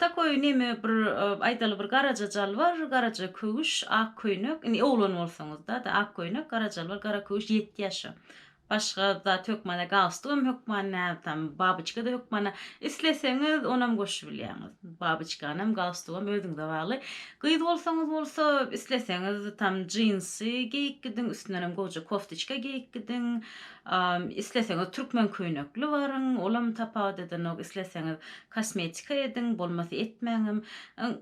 Takoý neme bir aýdaly bir garaja jalbar, garaja köwüş, ak köýnek, indi oglan bolsaňyzda da ak köýnek, gara jalbar, gara köwüş ýetdi ýaşa. Başga zat hökmana galstukam hökman näme tam babyçkada hökmana isleseňiz onam goşubilýäňiz. Babyçkanam galstukam özüňize bagly. Gyz bolsaňyz bolsa isleseňiz tam jinsy geýip gidiň, üstünenem gowja koftiçka geýip gidiň. Isleseňiz türkmen köýnekli baryň, olam tapawut edenok, isleseňiz Kosmetika ediň, bolmasa etmäňem.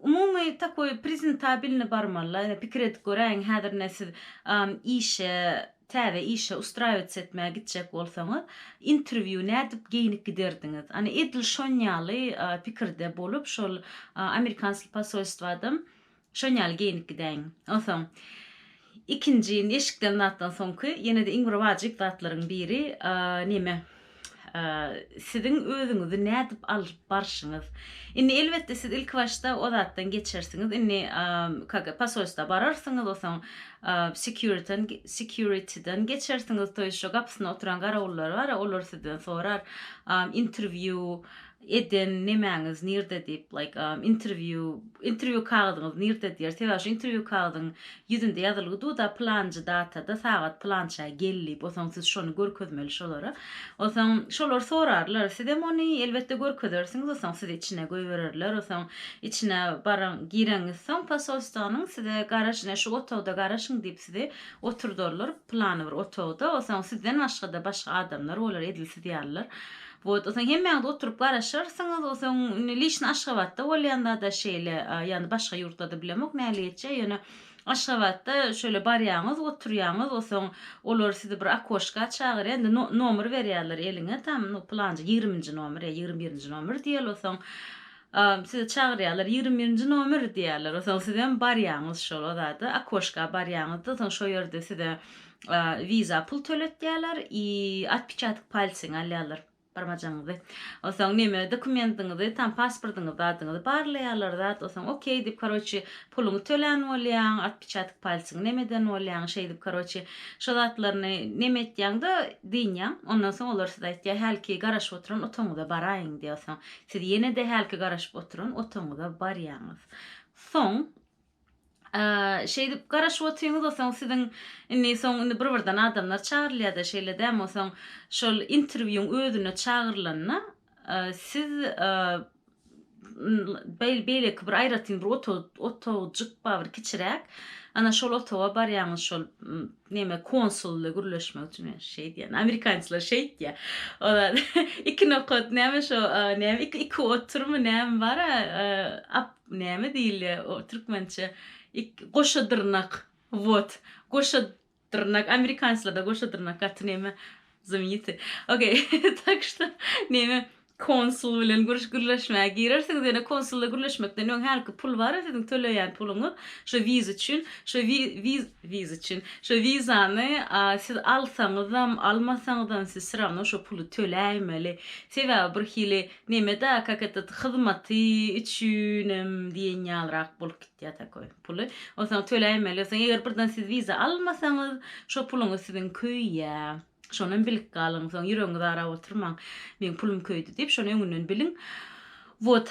Umumy takoý prezentabilny barmalla. Ine pikir edip göräýiň, häzir ine siz işe, täze işe ustrawitsa etmäge gitjek bolsaňyz, interwýu nädip geýnip giderdiňiz? Ana edil şonýaly pikirde bolup şol amerikanskiý posolstwadam Şonýaly geýinip gidäýiň. Onsoň, ikinji indi eşikden zatdan soňky, ýene-de iň bir wajyp zatlaryň biri, neme, siziň özüňizi nädip alyp barşyňyz. Indi, elbetde, siz ilkibaşda o zatdan geçersiňiz. Indi, kak, posolstwa bararsyňyz, onsoň, sekýuriten, sekýuritiden geçersiňiz, toýuşa gapysynda oturan garawullar bar, olar sizden sorar, interwýu, eden nemäňiz nirde diýip like am interview interview kagyzyňyz nirde diýer sebäbi şu interview kagyzyň ýüzünde ýazylgy duda pylanjy datada sagat pylança gel diýip osoň siz şony görkezmeli şolara osoň şolar sorarlar sizem ony elbetde görkezersiňiz osoň sizi içine goýbererler osoň içine baraň gireňiz soň posolstwanyň size garaş ine şu otagda garaşyň diýip sizi oturdarlar pylany bir otagda osoň sizden başgada başga adamlar bolar edil siz ýalylar Wot, soň hemmäňiz oturyp garaşarsyňyz, soň indi liçno Aşgabatda bolýanda-da şeýle, ýagny başga ýurtlarda bilemok nähili geçýär, ýöne Aşgabatda şöyle barýaňyz, oturýaňyz, soň olar sizi bir okoşka çagyrýar, indi nomer berýärler eliňe, tam nu pylanja ýigriminji nomer ýa ýigrimi birinji nomer diýýärler, soň sizi çagyrýarlar, ýigrimi birinji nomer diýýärler, soň sizem barýaňyz şol o zada, okoşka barýaňyz-da, soň şo ýerde size Visa pul töletýärler i otpiçatyk palcyňy alýarlar barmajagyňyzy onsoň neme dokumentiňizi tam pasportyňyzda adyňyzy barlaýarlar zat onsoň okey diýip karoçi puluňy tölän bolýaň otpiçatyk palcyňy neme eden bolýaň şeýdip karoçi şo zatlaryny neme etýäňde dynýaň ondan soň olar size aýtýar hälki garaşyp oturan otagyňyza baraýyň diýýär onsoň siz ýenede hälki garaşyp oturan otagyňyza barýaňyz soň şeýdip garaşyp otyňyz osaň siziň indi soň indi bir birden adamlar çagyrylýada şeýle dämi osaň şol interwýuň özüne çagyrylanda siz beýleki bir aýratyn bir otagcjyk bar bir kiçiräk ana şol otaga barýaňyz şol neme konsul bilen gürleşmek üçin men şeý diýen amerikançylar şeýtýa olar iki nokat näme şo näme iki iki oturmy näme bara Näme diýilýä o türkmençe ik goşa dyrnak wot goşa dyrnak amerikanslarda goşa dyrnak gaty näme zymyty okey tak şta näme konsul bilen gürüş gürleşmäge girersiňiz ýöne konsulda gürleşmekden öň hälki pul bara siziň töleýän puluňyz şo wiz üçin şo wi wiz wiz üçin şo wizany a siz alsaňyzam almasaňyzam siz syrano şo puly töläýmeli sebäbi birhili Neme-da kak etet, hyzmaty üçinem diýen ýalyrak bolup gitýär takoý puly. Onsoň töläýmeli. Onsoň eger birden siz wiza almasaňyz, şo puluňyz siziň köýýär. Şonam bilip galyň. Soň ýüregiňizi arap oturmaň. Meň pulum köýdi diýip, şony öňünden biliň. Wot.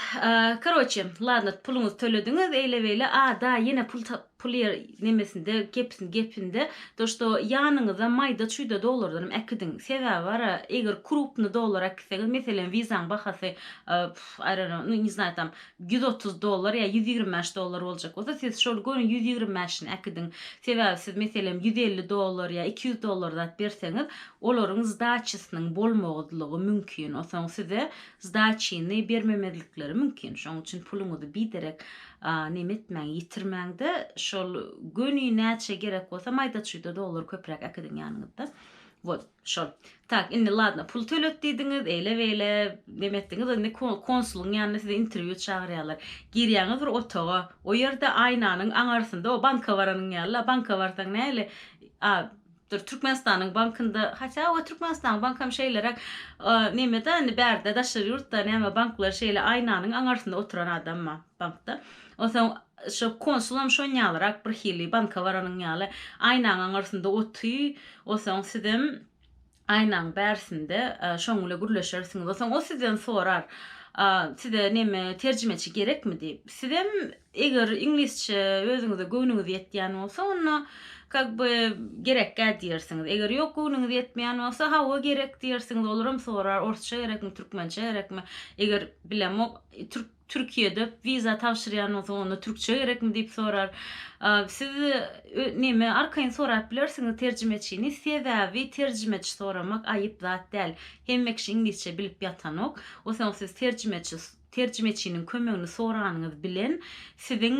Karoçe, ladno, puluňyzy tölediňiz, eýle-beýle, a, da, ýene pul Pul ýer nemesinde gepinde to što ýanyňyzda maýda çuýda dollardanam äkidiň sebäbi bara eger krupny dollar äkitseňiz meselem wizaň bahasy aýrana nu ne znay tam ýüz otuz dollar ýa ýüz ýigrimi bäş dollar boljak bolsa siz şol göni ýüz ýigrimi bäşini äkidiň sebäbi siz meselem ýüz elli dollar ýa iki ýüz dollar zat berseňiz olaryň zdaçysynyň bolmagdlygy mümkin osaň size zdaçyny bermemezlikleri mümkin şoň üçin puluňyzy biderek A neme etmäň, ýitirmäňde şol göni näçe gerek bolsa maýda çuýda dollar köpräk äkidiň ýanyňyzda. Wot, şol. Tak, indi ladna, pul tölet diýdiňiz, eýle beýle neme etdiňiz, indi konsulyň ýanyna sizi interwýu çagyrýarlar. Girýäňiz bir otaga, o ýerde aýnanyň aňarsynda o banka baranyň ýaly la, banka barsaň näli, a Dur Türkmenistanyň bankynda hatda owa Türkmenistanyň bankam şeýleräk nemede indi bärde daşary ýurtda näme banklar şeýle aýnanyň aňarsynda oturan adamma bankda onsoň şo konsulam şonýalyrak birhili banka baranyň ýaly aýnaň aňarsynda oty onsoň sizem aýnaň bärsinde şoň bile gürleşersiňiz onsoň o sizden sorar size neme terjimeçi gerekmi diýip sizem Eger iňlisçe özüňize göwnüňiz ýetýän bolsa, onda kak by gerekgä diýersiňiz. Eger ýok göwnüňiz ýetmeýän bolsa, hawa gerek diýersiňiz. Olaram sorar, orsça gerekmi, türkmençe gerekmi? Eger bilemok, türk Türkiýede wiza tabşyrýan bolsaň, onda türkçe gerekmi diýip sorar. Siz näme arkaýyn sorap bilersiňiz terjimeçini, sebäbi terjimeçi soramak aýyp zat däl. Hemme kişi iňlisçe bilip ýatanok. Osaň siz terjimeçi Terjimeçiniň kömegini soranyňyz bilen siziň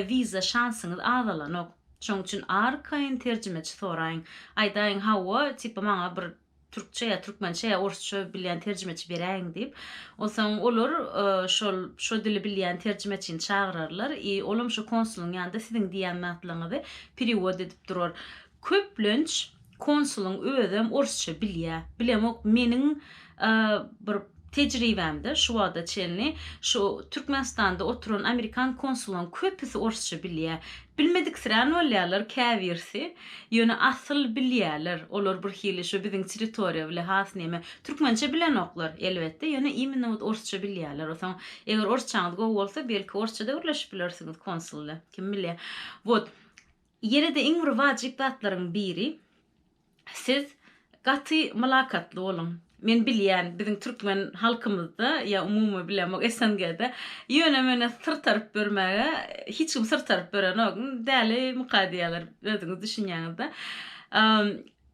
wiza şansyňyz azalanok. Şoň üçin arkaýyn terjimeçi soraýyň. Aýdaýyň, Hawa, tipa maňa bir türkçe ýa türkmençe ýa orsça bilýän terjimeçi beräýiň diýip. Onsoň olar şol şo dili bilýän terjimeçini çagyrarlar i olam şo konsulyň ýanynda siziň diýýän zatlaryňyzy periwod edip durar. Köplenç konsulyň özem orsça bilýä. Bilemok meniň bir tejribämde şu wagta çenli şu Türkmenistanda oturan amerikan konsulyň köpüsi orsça bilýä. Bilmediksirän bolýarlar käbirsi. Ýöne asyl bilýäler. Olar bir hili şu biziň territoriýa bile has neme. Türkmençe bilenoklar elbetde ýöne imенно wot orsça bilýäler. Osaň eger orsçaňyz gowy bolsa belki orsça-da gürleşip bilersiňiz konsul ile. Kim bilýä. Wot. Ýene-de iň bir wajyp zatlaryň biri, siz gaty mylakatly boluň. Men bilýän, biziň türkmen halkymyzda, ýa umumy bilemok, SNG-de ýöne-möne syr taryp ýörmäge hiç kim syr taryp ýörenok, Dälimyka diýýärler, özüňiz düşünýäňiz-dä.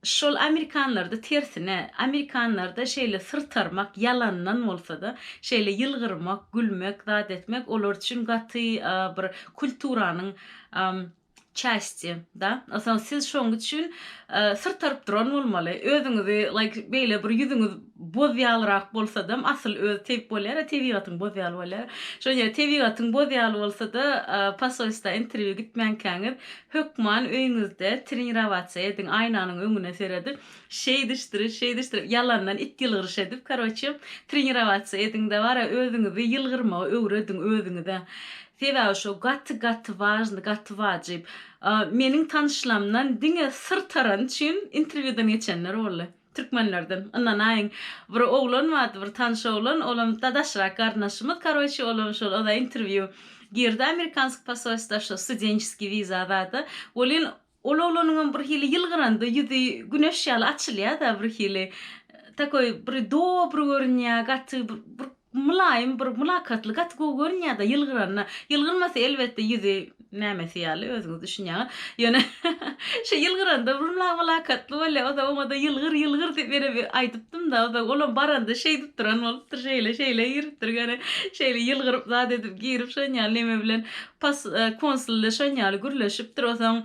Şol amerikanlarda tersine, amerikanlarda şeýle syrtarmak, ýalandan bolsa-da, şeýle ýylgyrmak, gülmek, zat etmek olar üçin gaty bir kulturanyň çästi da. Onsoň siz şoň üçin syrtaryp duran bolmaly. Özüňizi like beýle bir ýüzüňiz boz ýalyrak bolsadam, asyl özi tebip bolýar-a, tebigatyň boz ýaly bolýar. Şoň ýaly tebigatyň boz ýaly bolsa-da, posolstwa interwýu gitmänkäňiz, Hökman öýüňizde trenirowatsiýa ediň, aýnanyň öňüne seredip, şeýdişdirip, şeýdişdirip, ýalandan it ýylgyryş edip, karoçe, trenirowatsiýa ediň-de bara özüňizi ýylgyrmagy öwrediň özüňize. Sebäbi şo gaty-gaty wažny, gaty wajyp. Meniň tanyşlamdan diňe syr tarany üçin interwýudan geçenler boldy. Türkmenlerden. Ynanaýyň. Bir oglan bardy, bir tanyş oglan, olam dadaşrak garyndaşymyz, karoçi, olam şol oda interwýu girdi amerikansk posolstwa şo studençeskiý wiza zada. Welin, ol oglanyňam bir hili ýylgyranda ýüzi güneş ýaly açylýa-da bir hili. Takoý bir dobry görünýä, gaty bir Mylaýym bir mylakatly gaty gowy görünýärda ýylgyranda. Ýylgyrmasa elbetde ýüzi nämesi ýaly özüňiz düşünýäňiz. Ýöne şu ýylgyranda bir mylakatly bolýar. Ozal oňada ýylgyr ýylgyr diýip ýene bir aýdypdymda ozal olam baranda şeýdip duran bolupdyr şeýle şeýle giripdir göni şeýle ýylgyryp zat edip girip şonýaly neme bilen pas konsul bilen şonýaly gürleşipdir osaň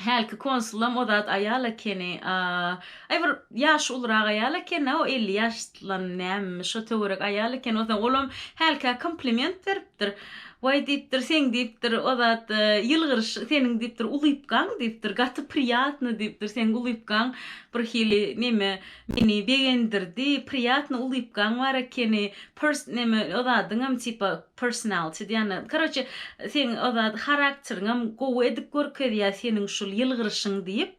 Hälki konsulam o zat aýal ekeni a. Aý bir ýaşy ulurak aýal ekena o elli ýaşlam nämemi şo töwerek aýal ekeni o olam hälkä kompliment beripdir waý diýipdir seň diýipdir o zat ýylgyryşy seniň diýipdir ulypkaň diýipdir gaty priýatny diýipdir seň ulypkaň bir hili neme meni begendirdi priýatny ulypkaň bar ekeni pers neme o zadyňam tipa Personality diýýän karoçe seň o zat harakteriňem gowy edip görkezýä seniň şul ýylgyryşyň diýip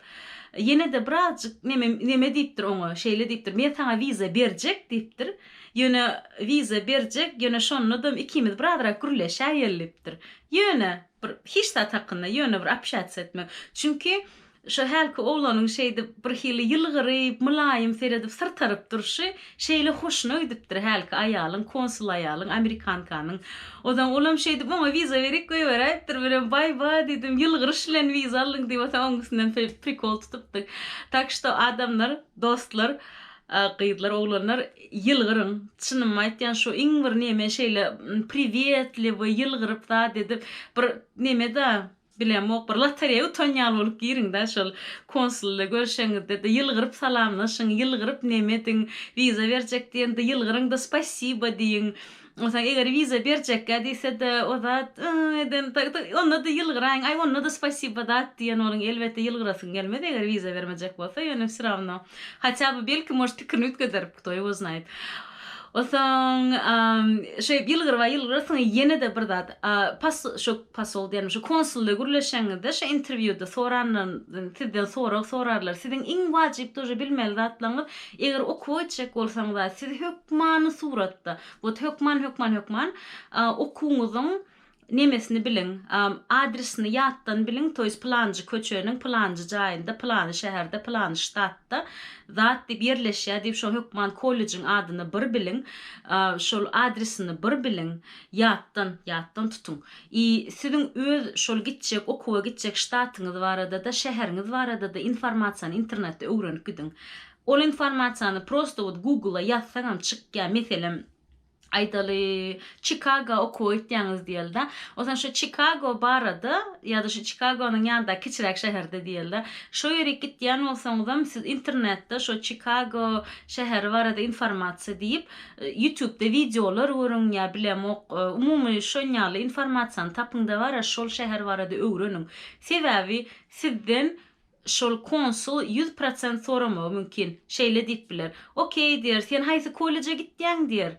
ýenede birazjyk neme neme diýipdir oňa şeýle diýipdir men saňa wiza berjek diýipdir ýöne wiza berjek ýöne şonadam ikimiz birazrak gürleşäýelipdir ýöne bir hiç zat hakynda ýöne bir apşatsiýa etmek çünki Şu hälki oglanyň şeýdip, birhili ýylgyryp, mylaýym seredip, syrtaryp durşy şeýle hoşuna gidipdir hälki aýalyň, konsul aýalyň, amerikankanyň. Onsoň olam şeýdip, Maňa wiza berik, goýberäýipdir. Menem, Baý-ba, diýdim, ýylgyryş bilen wiza aldyň diýip, onsoň oň üstünden şeýdip prikol tutupdyk. Tak şto, adamlar, dostlar, gyzlar, oglanlar, ýylgyryň. Çynymy aýtýan, şu iň bir neme şeýle priwetliwi, ýylgyryp zat edip, bir neme-da, Bilemok bir lotereýa utan ýaly bolup giriňdä şol konsulda görşeňizdede ýylgyryp salamlaşyň ýylgyryp neme ediň wiza berjek diýende ýylgyryňda spasiba diýiň onsaň eger wiza berjekgä diýsede o zat ýy eden ondada ýylgyraýyň aý ondada spasiba zat diýen boluň elbetde ýylgyrasyň gelmez eger wiza bermejek bolsa ýöne wsy rawno hatýa by belki может pikirini üýtgederip kto ýo znaýt onsaň şeýdip ýylgyryba ýylgyrasyň ýenede bir zat pas şo. Posol diýen şu konsulda gürleşeňizde şu interwýuda soranlaryny sizden sorag sorarlar. Siziň iň wajyp dojy bilmeli zatlaryňyz eger okuwa gitjek bolsaňyza siz hökmany suratda wot hökman hökman hökman okuwyňyzyň nemesini biliň adresini ýatdan biliň to ýest pylanjy köçeniň pylanjy jaýynda pylany şäherde pylany ştatda zat diýip ýerleşýär diýip şo hökman kollejiň adyny bir biliň şol adresini bir biliň Ýatdan, ýatdan tutuň. I, siziň öz şol gitjek, okuwa gitjek ştatyňyz barada-da, şäheriňiz barada-da informasiýany internetde öwrenip gidiň. Ol informasiýany prosto wot Google-a ýazsaňam çykýar. Meselem, aýdaly, Çikaga okuwa gitýäňiz diýeli-de. O zaman şo Çikago barada ýa-da şu Çikagonyň ýanyndaky kiçiräk şäherde diýeli-de. Şo ýerik gitýän bolsaňyzam, siz internetde şo Çikago şäheri barada informasiýa diýip, Ýutubda wideolar görüň ýa bilemok, umumy şonýaly informasiýany tapyňda bara şol şäher barada öwreniň. Sebäbi sizden şol konsul ýüz prosent soramagy mümkin. Şeýle diýip biler, Okey diýer, sen haýsy kolleje gitýäň diýer.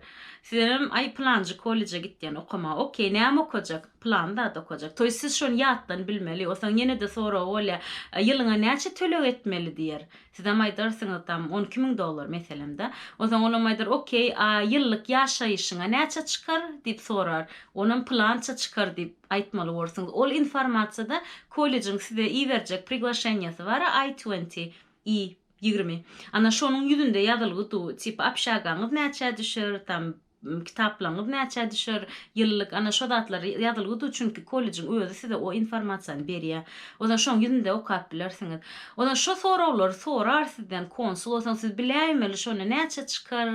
Sizem aý pylanjy kolleje gitýän okamaga. Okey, näme okajak? Pylan zat okajak. Toý siz şony ýatdan bilmeli. Onsoň ýene-de soragy bolýar, Ýylyňa näçe töleg etmeli diýer. Sizem aýdarsyňyz, Tam on iki müň dollar, meselem-dä. Onsoň olam aýdar, Okey, a ýyllyk ýaşaýşyňa näçe çykar? diýip sorar. Onam Pylança çykar diýip aýtmaly borsuňyz. Ol informasiýada kollejiň size iberjek priglaşenýasy bar-a, I twenty, I ýigrimi. Ana, şonuň ýüzünde ýazylgy du, tipa, Obşagaňyz näçä düşer? Tam, Kitaplaryňyz näçä düşer, ýyllyk, ana, şo zatlar ýazylgy dur, çünki kollejiň özi size o informasiýany berýär. Onsoň şoň ýüzünde okap bilersiňiz. Onsoň şo soraglary sorar sizden konsul, onsoň siz biläýmeli şony näçe çykar,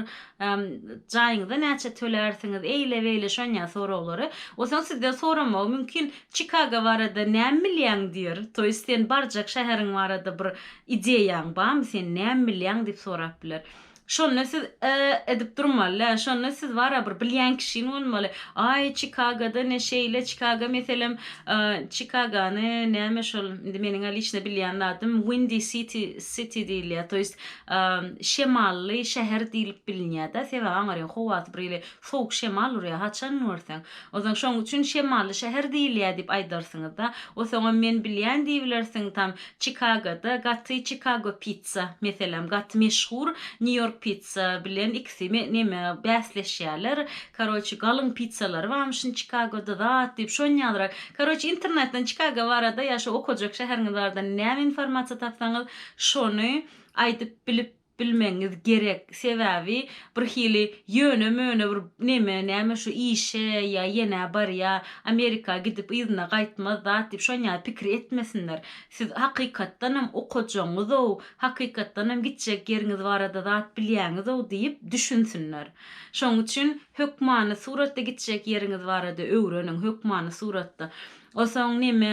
jaýyňyza näçe tölärsiňiz, eýle-beýle şonýa soraglary. Onsoň sizden soramagy mümkin, Çikago barada näme bilýäň diýer. To ýest sen barjak şäheriň barada bir ideýaň barmy, sen näme bilýäň diýip sorap biler. Şonda siz e edip durmaly-dä, şonda siz bara bir bilýän kişiň bolmaly. Aý, Çikagoda ne şeýle, Çikago meselem, e, Çikagony näme şol, indi meniň-ä liçno bilýän zadym Windy City, City diýilýär, to ýest, e, şemally şäher diýlip bilinýär-dä, sebäbi aňryň howasy bir hili sowuk şemal urýar, haçan görseň. Onsoň şonuň üçin şemally şäher diýilýär diýip aýdarsyňyz-da. Onsoňam men bilýän diýibilersiň, tam Çikagoda gaty Çikago pit. Pizza, meselem, gaty meşhur New York Pizza bilen ikisi me, neme, bäsleşýärler. Karoçi, galyň pizzalary barmyşyn Çikagoda, zat diýip, şon ýalyrak. Karoçi, internetden Çikago barada ýa şu okajak şäheriňiz barada näme informasiýa tapsaňyz, şony aýdyp bilip bilmegiňiz gerek. Sebäbi bir hili ýöne-möne bir neme, näme şu işe ýa ýenä barýa, Amerika gidip yzyna gaýtmaz, zat diýip, şon ýaly pikir etmesinler. Siz hakykatdanam okajaňyz-ow, hakykatdanam gitjek ýeriňiz barada zat bilýäňiz-ow diýip düşünsinler. Şonuň üçin hökmany suratda gitjek ýeriňiz barada öwreniň, hökmany suratda. Onsoň näme,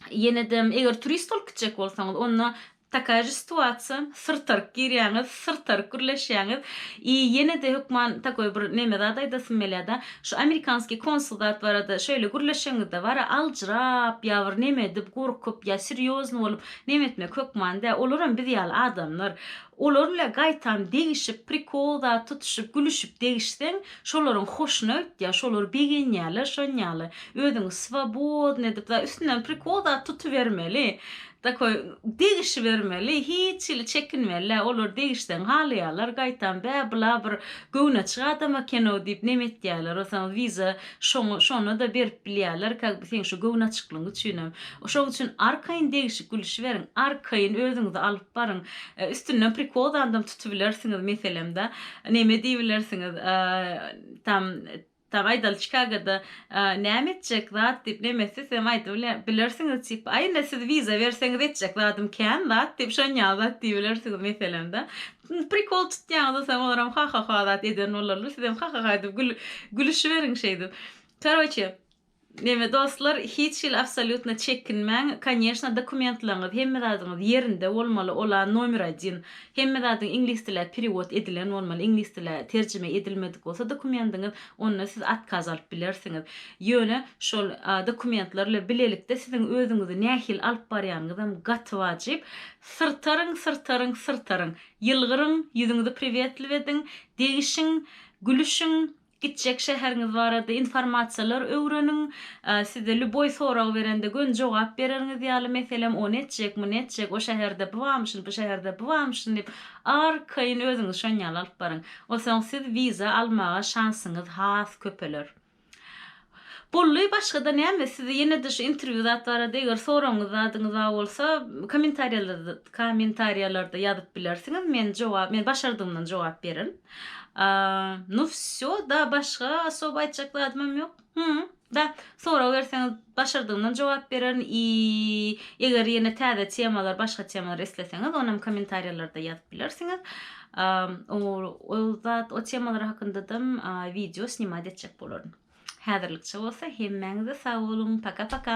ýene-de eger turist bolup gitjek bolsaňyz, onda Takaya je situatsiýa, syrtaryk girýäňiz, syrtaryk gürleşýäňiz i ýene-de hökman takoý bir neme zat aýdasym gelýä-da, şu amerikanskiý konsul zat barada şeýle gürleşeňizde bara aljyrap ýa bir neme edip, gorkup ýa serýozny bolup neme etmek hökman dä, olaram biz ýaly adamlar. Olar bile gaýtam degişip, prikol zat tutuşyp, gülüşip degişseň, şolaryň hoşuna gitýä, şolar begenýäler şon ýaly. Özüňi swobodny edip, za üstünden prikol zat tutubermeli. Takoý, Degişibermeli, hiç hili çekinmeli-ä, olar degişseň halaýarlar, gaýtam, Bä, bula bir göwnaçyk adam eken-ow diýip nem etýärler, olsaňyz wiza şoňa, şona-da berip bilýärler, ka, seň şu göwnaçyklygyň üçinem. Şoň üçin arkaýyn degişip gülüşiberiň, arkaýyn özüňizi alyp baryň. Üstünden prikozandam tutubilersiňiz, meselem-dä, neme diýibilersiňiz, tam, Tagay dal Çikagada näme etjek zat diýip nemesi sem aýdyp bilersiňiz tipa a indi siz wiza berseňiz etjek zadym kän zat diýip şonýaly zat diýibilersiňiz meselem da prikol tutýaňyz sen olaram hahaha zat eden bolarlar sizem hahaha diýip gülüşiberiň şeýdip karoçe Neme dostlar hiç hili absolýutno çekinmäň koneşno dokumentlaryňyz hemme zadyňyz ýerinde bolmaly ola nomer odin hemme zadyň iňlis dilä perewod edilen bolmaly iňlis dilä terjime edilmedik bolsa dokumendiňiz onda siz atkaz alyp bilersiňiz ýöne şol dokumentler ile bilelikde siziň özüňizi nähili alyp barýanyňyzam gaty wajyp syrtaryň syrtaryň syrtaryň ýylgyryň ýüzüňizi priwetliw ediň degişiň gülüşiň Gitjek şäheriňiz barada informasiýalar öwreniň. Size lýuboý sorag berende göni jogap bereriňiz ýaly, meselem, ony etjek, muny etjek, o şäherde bu barmyşyn, bu şäherde bu barmyşyn diýip, arkaýyn özüňizi şonýaly alyp baryň. Onsoň siz wiza almaga şansyňyz has köpeler. Bolly başgada näme sizi ýenede şu intervýu zat barada eger soragyňyz zadyňyza bolsa komentarýalarda komentarýalarda ýazyp bilersiňiz men jogap men başardygymdan jogap berin nu vsýo da başga osoba aýtjak zadymam ýok hum da sorag berseňiz başardygymdan jogap berin i eger ýene täze temalar başga temalar isleseňiz onam komentarýalarda ýazyp bilersiňiz A o o zat o temalar hakyndadam wideo snimat etjek bolaryn. Häzirlikçe bolsa hemmäňize sag boluň, paka-paka!